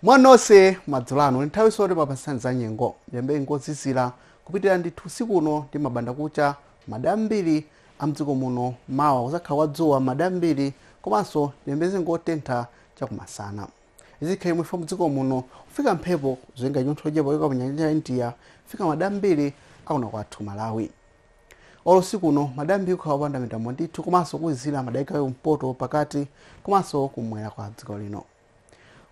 mwanonse madzulo ano nthawi tsono timakupatsani za nyengo tiyembekeze nyengo yozizira kupitirira ndithu usiku uno ndi mmbandakucha madera ambiri a mdziko muno mawa kuzakhala kwa dzuwa madera ambiri komanso tiyembekeze nyengo yotentha chakumasana izi zikhala chomwechi chifukwa mdziko muno kufika mphepo zotenga chinyontho chochepa kuchoka panyanja ya india kufika madera ambiri a kuno kwathu malawi olo usiku uno madera ambiri kukhala kopanda mitambo ndithu komanso kuzizira madera a chigawo cha kumpoto pakati komanso kumwera kwa dziko lino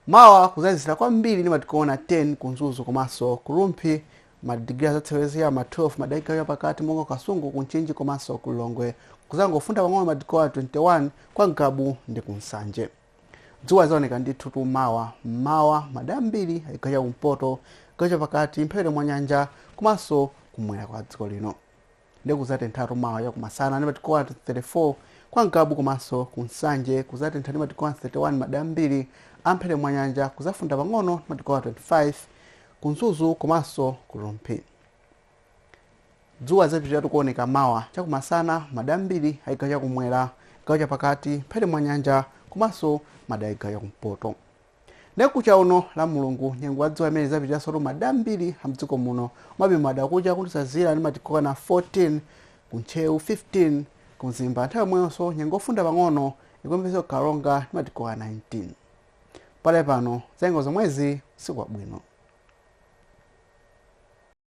mawa kuzazizira kwambiri ndi madigiri okwana 10 ku mzuzu komanso ku rumphi madigiri azasewera cha mma 12 madera a chigawo chapakati monga ku kasungu ku mchinji komanso ku lilongwe kuzangofunda pang'ono madigiri okwana 21 kwa ngabu ndi ku nsanje dzuwa lidzaoneka ndithu tu mawa mmawa madera ambiri a chigawo cha kumpoto chigawo chapakati mphepete mwa nyanja komanso kumwera kwa dziko lino ndiye kudzatentha tu mawa chakumasana ndi madigiri okwana 34 kwa ngabu komanso ku nsanje kudzatentha ndi madigiri okwana 31 madera ambiri amphepete mwa nyanja kudzafunda pang'ono ndi madigiri okwana 25 ku mzuzu komanso ku rumphi Dzuwa lidzapitiratu kuoneka mawa chakumasana m'madera ambiri a chigawo chakumwera, chigawo chapakati, mphepete mwa nyanja komanso madera a chigawo chakumpoto. Ndiye mkuja uno Lamulungu, nyengo ya dzuwa imeneyi idzapitiransotu m'madera ambiri a m'dziko muno. Komabe m'mbandakucha kudzazizira ndi madigiri okwana 14 ku Ntcheu, 15 ku Mzimba nthawi yomweyonso nyengo yofunda pang'ono ikuyembekezeka ku Karonga ndi madigiri okwana 19. Pakadali pano za nyengo zomwezi usiku wabwino.